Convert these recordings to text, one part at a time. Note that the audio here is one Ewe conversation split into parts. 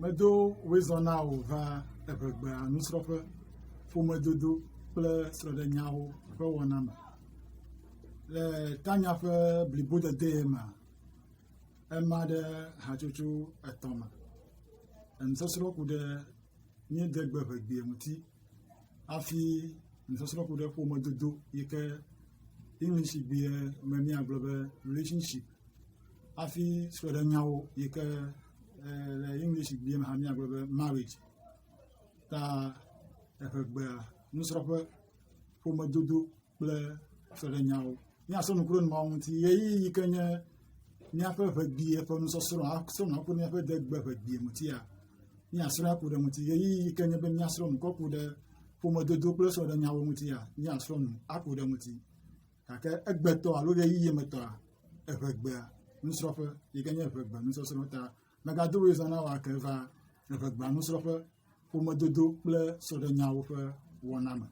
Medo wezɔ na wò va eŋegbea nusrɔ̃ƒe, ƒomedodo kple srɔ̃ɖenyawo ƒe wɔna me. Le Tanya ƒe blibodedee mea, ema ɖe hatsotso etɔ̃ me. Enusɔsrɔ̃ ku ɖe míede gbe ŋegbee ŋuti hafi nusɔsrɔ̃ ku ɖe ƒomedodo yi ke English ŋugbee me míagblɔ be relationship hafi srɔ̃ɖenyawo yi ke eh, le English bia me hã míagblɔ be marriage ta eƒegbea nusrɔ̃ƒe ƒomedodo kple srɔ̃ɖenyawo míasɔ nu kple nuawo ŋuti ɣeyiɣi yi ke nye míaƒe ʋegbie ƒe nusɔsrɔ̃ asrɔ̃ nu akpɔ míaƒe degbe ʋegbie ŋutia míasrɔ̃ aku ɖe ŋuti ɣeyiɣi yi ke nye be míasrɔ̃ nu kɔku ɖe ƒomedodo kple srɔ̃ɖenyawo ŋutia míasrɔ̃ nu aku ɖe ŋuti gake egbetɔ alo ɣeyiɣi me tɔa, eŋegbea nusrɔ̃ƒe yi ke nye eŋegbea nusɔsrɔ̃ ta megado wo zã na wòa ke va eŋegbea nusrɔ̃ƒe, ƒomedodo kple sɔɖenyawo ƒe wɔna me.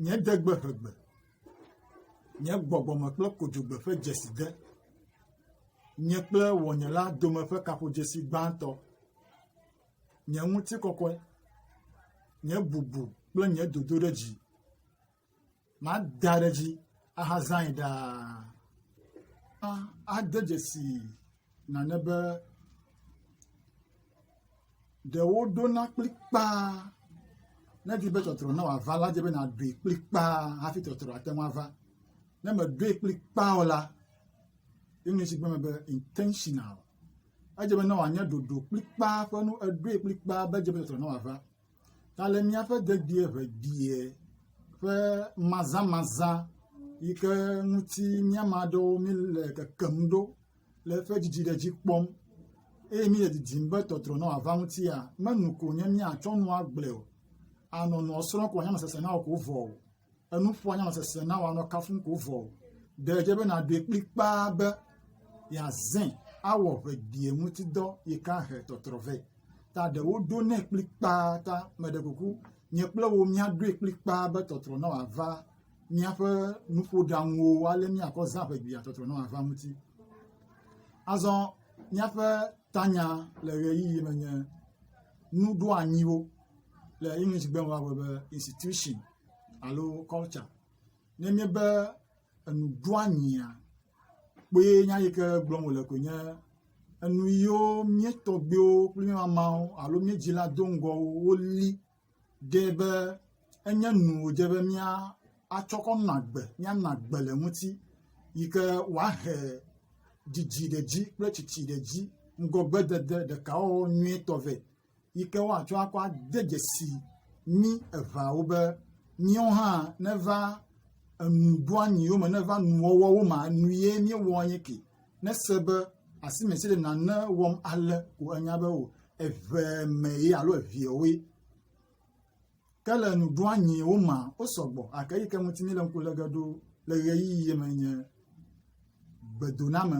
Nye degbe ŋegbe, nye gbɔgbɔme kple kodzogbe ƒe dzeside, nye kple wɔnyela dome ƒe kaƒodzesi gbãtɔ. nye ŋutikɔkɔe, nye bubu kple nye dodoɖedzi. Mada ɖe edzi ahazãe ɖaa. Ade dzesi nane be ɖewo ɖona kplikpaa ne edi be tɔtrɔ ne wòava la, edze be nàɖoe kplikpaa hafi tɔtrɔ ate ŋu ava. Ne mèɖoe kplikpaa o la, English gblɔ be intentional. Edze be ne wòanye ɖoɖo kplikpaa ƒe nu, eɖoe kplikpaa be edze be tɔtrɔ ne wòava. Ta le míaƒe dedie ʋebiɛ ƒe mazãmazã yi ke ŋuti míame aɖewo míle kekem ɖo le eƒe didi ɖe dzi kpɔm eye míle didim be tɔtrɔ ne wòava ŋutia, menu ko nye míatsɔ nu agblɔe o. Anɔ nua srɔ̃m ko wòanye amesesẽ na wò ko vɔ o. enuƒoa nya sese na wa nɔ kafum ko vɔ o. Ɖe dze be naɖoe kplikpaa be yeazẽ awɔ ʋegbie ŋuti dɔ yi ka he tɔtrɔ vɛ. Ta ɖe woɖo nɛ kplikpaa ta meɖe kuku nye kple wo míaɖoe kplikpaa be tɔtrɔ na wòava míaƒe nuƒoɖaŋuwo ale míakɔ zã ʋegbia tɔtrɔ na wòava ŋuti. Azɔ míaƒe tanya le ɣeyiɣi me nye nuɖoanyiwo. le English gbe me woagblɔ be institution alo culture. Ne enye be enu ɖo anyia kpoe nya yi ke gblɔm wòle koe nye enu yiwo mía tɔgbuiwo kple mía mamawo alo mía dzila do ŋgɔ wo woli ɖe be enye nu wòdze be mía atsɔ kɔ nɔ agbe míanɔ agbe le eŋuti yi ke wòahe didi ɖe edzi kple tsitsi ɖe edzi ŋgɔgbedede ɖekawɔwɔ nyuitɔ vɛ. yi ke woatsɔ akɔ ade dzesi mí eveawo be míawo hã neva enuɖoanyiwo me, neva nuwɔwɔwo me, nu ye míewɔa nye ke. Nese be asime si le nane wɔm ale ko anya be o eve me ye alo eveawoe. Ke le nuɖoanyiwo mea, wo sɔgbɔ gake eyi ke ŋuti míele ŋku lege ɖo le ʋeyiʋi ye me nye gbedoname.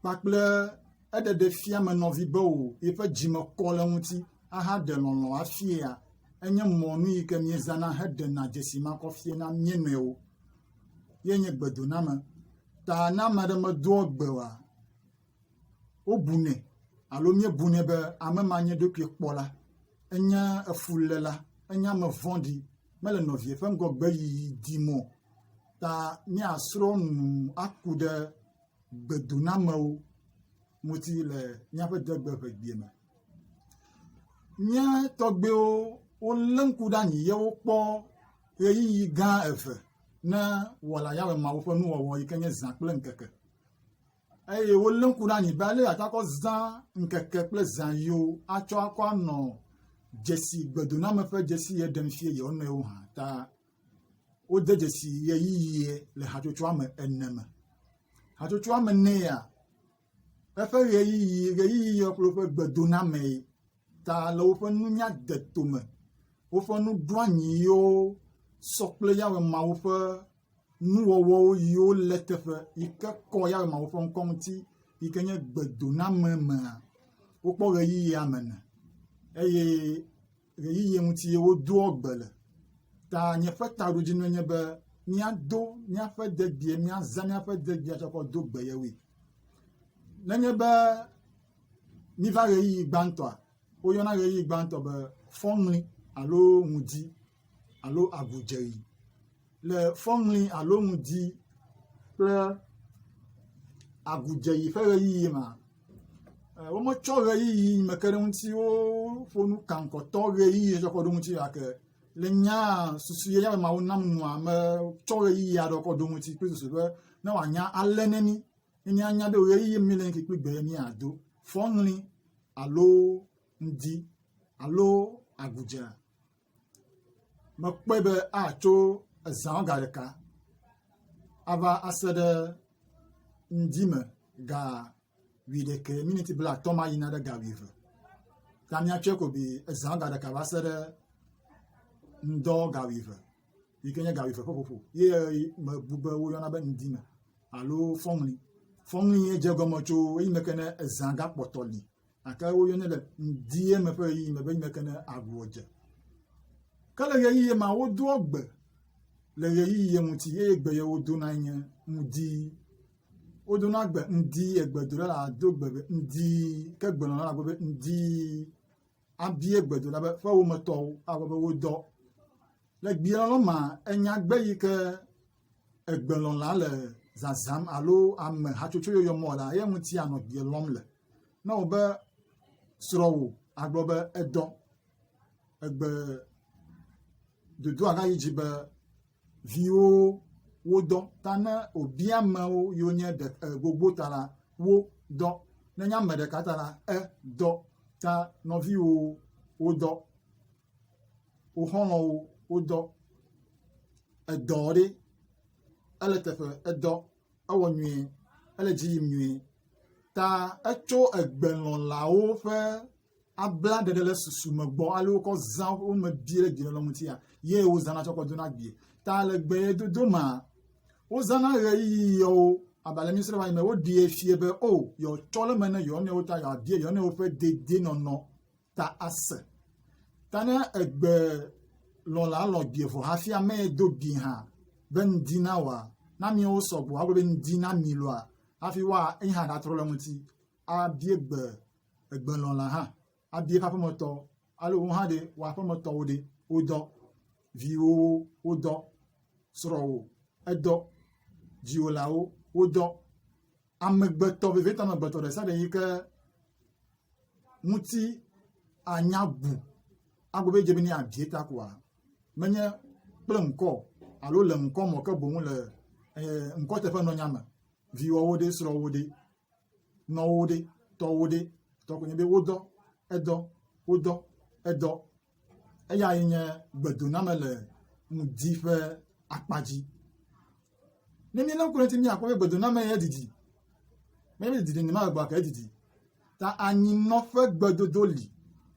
kpakple eɖeɖefiamenɔvi be o yiƒe dzi me kɔ le eŋuti ahaɖe lɔlɔ̃ afiea enye mɔnu yi ke míezãna heɖena dzesi makɔfie na mía nɔewo ye nye gbedoname ta ne ame aɖe medoa gbe oa wobunɛ alo míebunɛ be ame ma nye ɖokui kpɔla enye efuléla enye ame vɔ̃ɖi mele nɔvia ƒe ŋgɔgbe yiyi dim o ta míasrɔ̃ nu aku ɖe gbedonamewo ŋuti le míaƒe degbe ƒe gbea me. Mía tɔgbuiwo wolé ŋku ɖe anyi ye wokpɔ ʋeyiʋi gã eve na Wɔla Yahweh Mawu ƒe nuwɔwɔ yi ke nye zã kple ŋkeke. Eye wolé ŋku ɖe anyi be ale yeate akɔ zã ŋkeke kple zã yiwo atsɔ akɔ anɔ dzesi gbedoname ƒe dzesi ye ɖem fia yewo nɔewo hã ta. wode dzesi ʋeyiʋi le hatsotsoa me ene me. Hatsotsoa me enea, eƒe ʋeyiʋi ʋeyiʋi yɔ kple woƒe gbedonamee ta le woƒe nunyadeto me. Woƒe nuɖoanyi yiwo sɔ kple Yehowa Mawu ƒe nuwɔwɔwo yiwo lé teƒe yi ke kɔ Yehowa Mawu ƒe ŋkɔ ŋuti yi ke nye gbedoname mea, wokpɔ ʋeyiʋia me ene eye ʋeyiʋi ŋuti ye wodoa gbe le ta nye ƒe taɖodzinue nye be míado míaƒe degbee míaza míaƒe degbea tsɔ kɔ do gbe yewoe. Nenye be míva ʋeyiʋi gbãtɔa, woyɔna ʋeyiʋi gbãtɔ be fɔŋli alo ŋdi alo agudzedzi. le fɔŋli alo ŋdi kple agudzeyi ƒe ʋeyiʋi mea, wometsɔ ʋeyiʋi mekeɖeŋutsiwo ƒo nu kankɔtɔ ʋeyiʋi hetsɔ kɔ ɖo ŋuti o gake le nyaa susu ye ame mawo nam nua metsɔ ʋeyiʋi aɖewo kɔ ɖo ŋuti kple susu be ne wòanya alé ne mí ne míanya be ʋeyiʋi mi le ŋke kple gbe míado fɔŋli alo ŋdi alo agudze. mekpɔe be atso ezã ga ɖeka ava se ɖe ŋdi me ga wuiɖekɛ miniti blaatɔ̃ ma yina ɖe ga wuieve ta míatsɔe ko bi ezã ga ɖeka va se ɖe ŋdɔ ga wuieve yi ke nye ga wuieve ƒe ƒoƒo ye mebu be woyɔna be ŋdi me alo fɔŋli. Fɔŋli dze egɔme tso eyime ke ne ezã gakpɔtɔ li gake woyɔnɛ le ŋdie me ƒe ɣeyiɣi me be ŋmɛ ke ne agboa dze. Ke le ɣeyiɣi ma wodoa gbe le ɣeyiɣi ŋuti eye gbe ye wodona nye ŋdi. Wodona gbe ŋdi egbedola la do gbe be ŋdi ke gbenɔla la gbe be ŋdi abie gbedola be ƒe wometɔwo agbe be wodɔ. Le gbielɔlɔ ma enya gbe yi ke egbelɔ̃la le zazãm alo ame hatsotso yɔyɔ mɔ la, eya ŋuti ànɔ gbe lɔm le. Ne wò be srɔ̃wò agblɔ be edɔ egbe dodoa gayi dzi be viwo wodɔ ta ne wòbia amewo yiwo nye ɖe, e, gbogbo ta la, wo dɔ. Ne nye ame ɖeka ta la, e, dɔ ta nɔviwo wodɔ. wo xɔlɔ̃wo wodɔ edɔ ɖe ele teƒe edɔ ewɔ nyuie ele dzi yim nyuie ta etso egbelɔ̃lawo ƒe abla ɖeɖe le susu me gbɔ ale wokɔ zã wo me bia le gbe ŋutia ye wozãna tsɔ kɔ dona gbie ta le gbe dodo ma wozãna ɣeyiɣiwo abalẹ mi srɔ wanyime woɖie fie be o yɔtsɔ le me ne yɔnɔwo ta yɔabie yɔnɔwo ƒe dedienɔnɔ ta ase. Ta ne egbe lɔ̃la lɔ̃ gbi vɔ hafi ame yi do gbi hã be ŋdi na wòa, ne ameawo sɔgbɔ agblɔ be ŋdi na mi lɔa, hafi woa eyi hã ɖatrɔ le ŋuti abie gbe egbe lɔ̃la hã abie eƒe aƒemetɔ alo wo hã ɖe wò aƒemetɔwo ɖe wodɔ viwo wodɔ srɔ̃wò edɔ dziwòlawo wodɔ amegbetɔ vevietɔ amegbetɔ ɖe sia ɖe yi ke ŋuti anya bu agbe be dze be ne yeabie ta koa, menye kple ŋkɔ alo le ŋkɔ me ke boŋ le eh, ŋkɔ teƒe nɔnya me viwɔwo ɖe srɔ̃wo ɖe nɔwo ɖe tɔwo ɖe tɔkonye be wodɔ edɔ wodɔ edɔ eyae nye gbedoname le ŋdi ƒe akpa dzi. Ne míele ŋku ɖe eŋuti míakpɔ be gbedoname ya didi. Menye be didi nyema egbea ke edidi. Ta anyinɔƒe gbedodo li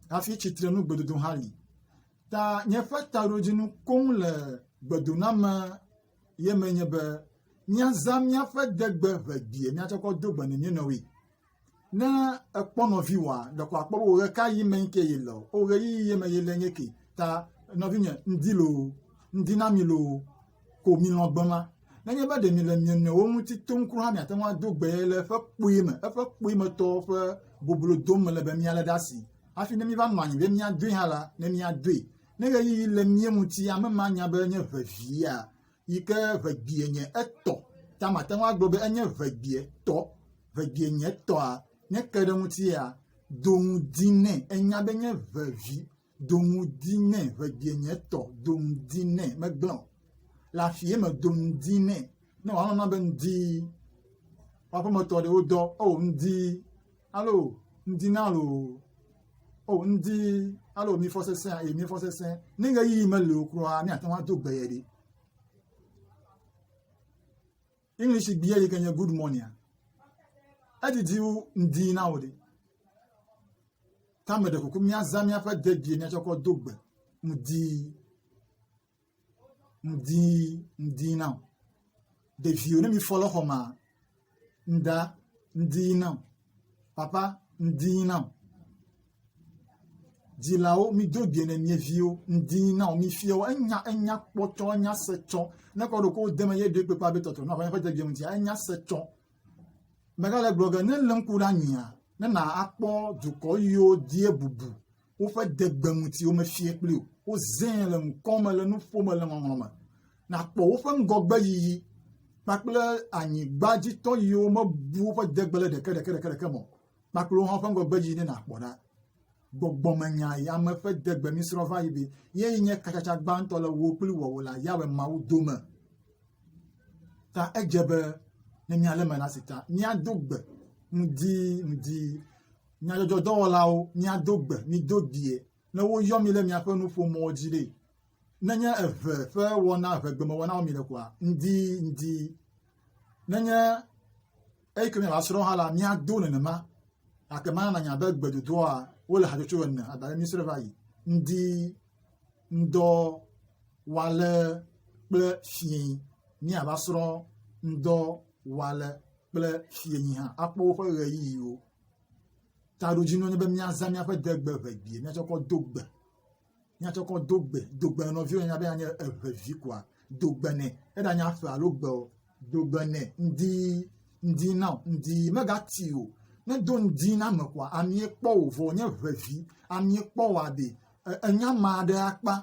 hafi tsitrenu gbedodo hã li. Ta míaƒe taɖodzinu koŋ le gbedoname ye me nye be míazã míaƒe degbe ʋegbee míatsɔ kɔ do gbe ne mía nɔewoe. Ne èkpɔ nɔviwòa, ɖeko àkpɔ be wò ɣekaɣi me ŋkɛ yele o. Wò ɣeyiɣi ye me yele nye ke. Ta nɔvinye, ŋdi loo, ŋdi na mi loo, ko milɔ̃ gbe ma. Nenye be ɖe mile mia nɔewo ŋuti tom kura hã, miate ŋu ado gbee le eƒe kpui me, eƒe kpuimetɔ ƒe boblo dom mele be mialé ɖe asi. Hafi ne míeva nɔ anyi be míadoe hã la, ne míadoe. Ne ɣeyiɣi le mía ŋuti, ame ma anya be nye ʋeʋia. yi ke ŋegbie nye etɔ ta mate ŋu agblɔ be enye ŋegbie tɔ. Ŋegbie nye etɔa, ne eke ɖe eŋutia, do ŋu dii nɛ. Enya be enye vevi. Do ŋu dii nɛ. Ŋegbie nye etɔ. Do ŋu dii nɛ. Megblẽ o. Le afi ye me do ŋu dii nɛ. Ne wòanɔ na be ŋdii, woƒe aƒemetɔ ɖewo dɔ, ewɔ ŋdii. Alo ŋdi na lo o ŋdi alo mi fɔ sesẽ eye mi fɔ sesẽ ne ɣeyiɣi meli o kura míate ŋu ado gbe ye ɖi. English gbia yi ke nye good morning edidi wu ŋdi na o ɖi. Tame ɖe kuku míazã míaƒe dedie míatsɔ kɔ do gbe ŋdi ŋdi ŋdi na o. Ɖeviwo ne mifɔ le xɔma, ŋda ŋdi na o. Papa ŋdi na o. Dzilawo mido gbe ne mie viwo ŋdi na o. Mifiɔ enya enya kpɔtɔ enya se tsɔ. Ne kɔ ɖo ko de me ye ɖe kpekpe abe tɔtɔ na ƒe ƒe degbe ŋuti enya se tsɔ. Mega le gblɔ ge ne le ŋku ɖe anyia ne na akpɔ dukɔ yiwo die bubu woƒe degbe ŋuti womefie kpli o. Wozẽe le ŋkɔ me le nu ƒom le ŋɔŋlɔ me. Nàkpɔ woƒe ŋgɔgbeyiyi kpakple anyigba dzi tɔ yiwo mebu woƒe degbe le ɖeke ɖeke ɖeke ɖeke me kpakple wohã woƒe ŋgɔgbeyiyi ne nàkpɔ ɖa. Gbɔgbɔmenya yi ame ƒe degbe misrɔ̃ va yi be yee nye katsatsa gbãtɔ le wò kpli wɔwɔ la Yahweh Mawu dome. Ta edze be ne míalé me la si ta míado gbe ŋdi ŋdi Nyadzɔdzɔdɔwɔlawo, miado gbe, mido die, ne woyɔ mi ɖe miaƒe nuƒomɔ̃wo dzi ɖe, nenye eve ƒe wɔna, evegbemewɔna wɔm miele koa? Ŋdi, ŋdi. Nenye eyike miava srɔ̃ hã la, miado nenema. Gake mana nanya be gbedodoa, wole hatsotso ene, abe ale míesrɔ̃e va yi, ŋdi, ŋdɔ, wale kple fiẽ. Míava srɔ̃ ŋdɔ, wale kple fiẽnyi hã, akpɔ woƒe ɣeyiɣiwo. Taɖodzinue nye be míazã míaƒe degbe ʋe gbee míatsɔ kɔ do gbe. Míatsɔ kɔ do gbe. Do gbe nɔ nɔviwò anya be anye eve vi koa, do gbe nɛ. Eɖanye aƒe alo gbe o, do gbe nɛ. Ŋdi ŋdi na o, ŋdi megati o. Ne èdo ŋdi na ame koa, amee kpɔ wò vɔ wònye ʋe vi. Amee kpɔ wòa ɖe ènya ame aɖe akpa.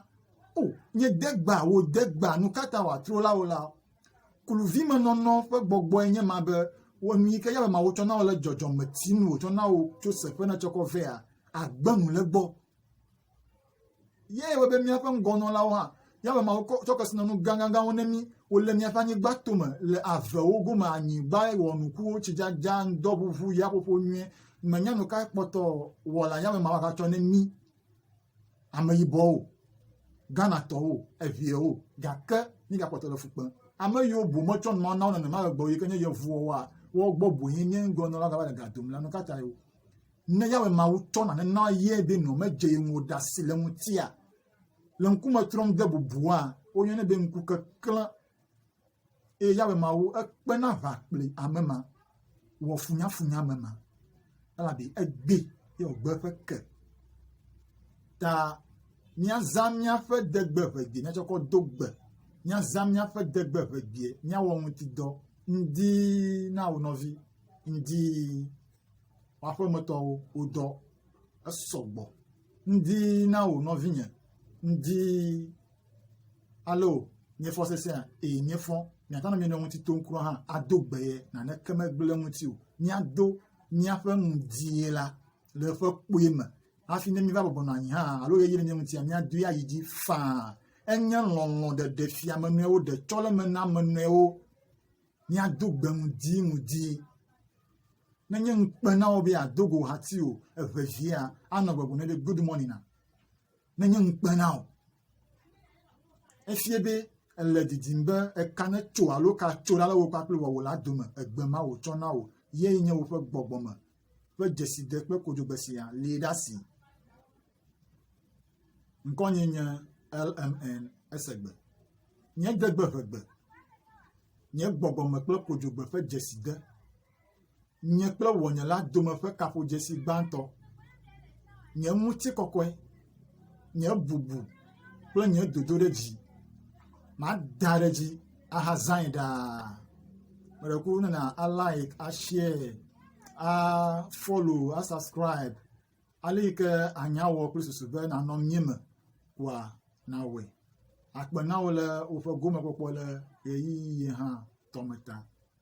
O, nye degba, wò degba, nu ka ta wòatro la wò la? Kluvimenɔnɔ ƒe gbɔgbɔe nye ma be wɔ nu yi ke Yawe Mawu tsɔ na wò le dzɔdzɔme si nu wòtsɔ na wò tso se ƒe nètsɔ kɔ vea, àgbe nu le egbɔ. Yae wɔ be míaƒe ŋgɔnɔlawo hã, Yawe Mawu tsɔ kesinɔnu gãgãgãwo ne mí. Wòle míaƒe anyigba tome, le avewo gome, anyigba wɔnukuwo, tsidzadza, ŋdɔʋuʋu, yaƒoƒo nyuie. Mènya nu kae kpɔtɔ Wɔla Yawe Mawu agatsɔ ne mí. ameyibɔwo, Ghanatɔwo, eŋewo, gake míegakpɔtɔ le fu kpem. Ame yiwo bu metsɔ nua na wo nenema le gbɔ yi ke nye yevuwoa, woawo gbɔ boe nye ŋgɔnɔla gava le ga dom la. Nu ka tae o? Ne Yawe Mawu tsɔ nane na ye be nɔ medze ye ŋu o ɖe asi le eŋutia, le ŋkume trɔm de bubua, woyɔnɛ be ŋkukeklẽ. eye Yawe Mawu ekpena aʋa kple ame ma, wɔ funyafunya ame ma, elabe egbee ye wògbe eƒe ke. Ta míazã míaƒe degbe ʋegbee, míatsɔ kɔ do gbe, míazã míaƒe degbe ʋegbee, míawɔ ŋutidɔ ŋdi na wo nɔvi, ŋdi aƒemetɔwo wodɔ esɔgbɔ, ŋdi na wo nɔvinye, ŋdi Alo míefɔ sesẽa? Ee, míefɔ. Míagblɔ na mía nɔewo ŋuti tom kura hã ado gbe ye, naneke megblẽ ŋuti o. Míado míaƒe nu die la le eƒe kpui me hafi ne míva bɔbɔ nɔ anyi hã alo ɣeyiɣi le mía ŋutia, míadoe ayi dzi faa. Enye lɔlɔ̃ ɖeɖe fia ame nɔewo, ɖetsɔleme na ame nɔewo. Míado gbe ŋdi ŋdi. Menye ŋukpe na wò be yeado go hati o, eŋevia anɔ gbɔgblɔm ne be good morning na. menye ŋukpe na wò. Efia be èle didim be eka netso alo eka tso ɖa le wò kpakple wò la dome, egbe ma wòtsɔ na wò ye nye woƒe gbɔgbɔ me ƒe dzeside kple kodzogbe sia li ɖe asi. Ŋkɔnye nye LMN Esegbe. Nye degbe ʋegbe, nye gbɔgbɔme kple kodzogbe ƒe dzeside. nye kple ŋɔnye la dome ƒe kaƒodzesi gbãtɔ, nye ŋutikɔkɔe, nye bubu kple nye dodoɖedzi. Mada ɖe edzi ahazãe ɖaa. Meɖe kuku ne na alaɛk, ashiɛɛ, afɔlo, asaskribe ale yi ke ànya wɔ kple susu be nànɔ mía me koa nàwɔe. Akpe na wò le woƒe gomekpɔkpɔ le ʋeyiʋi hã tɔ me ta.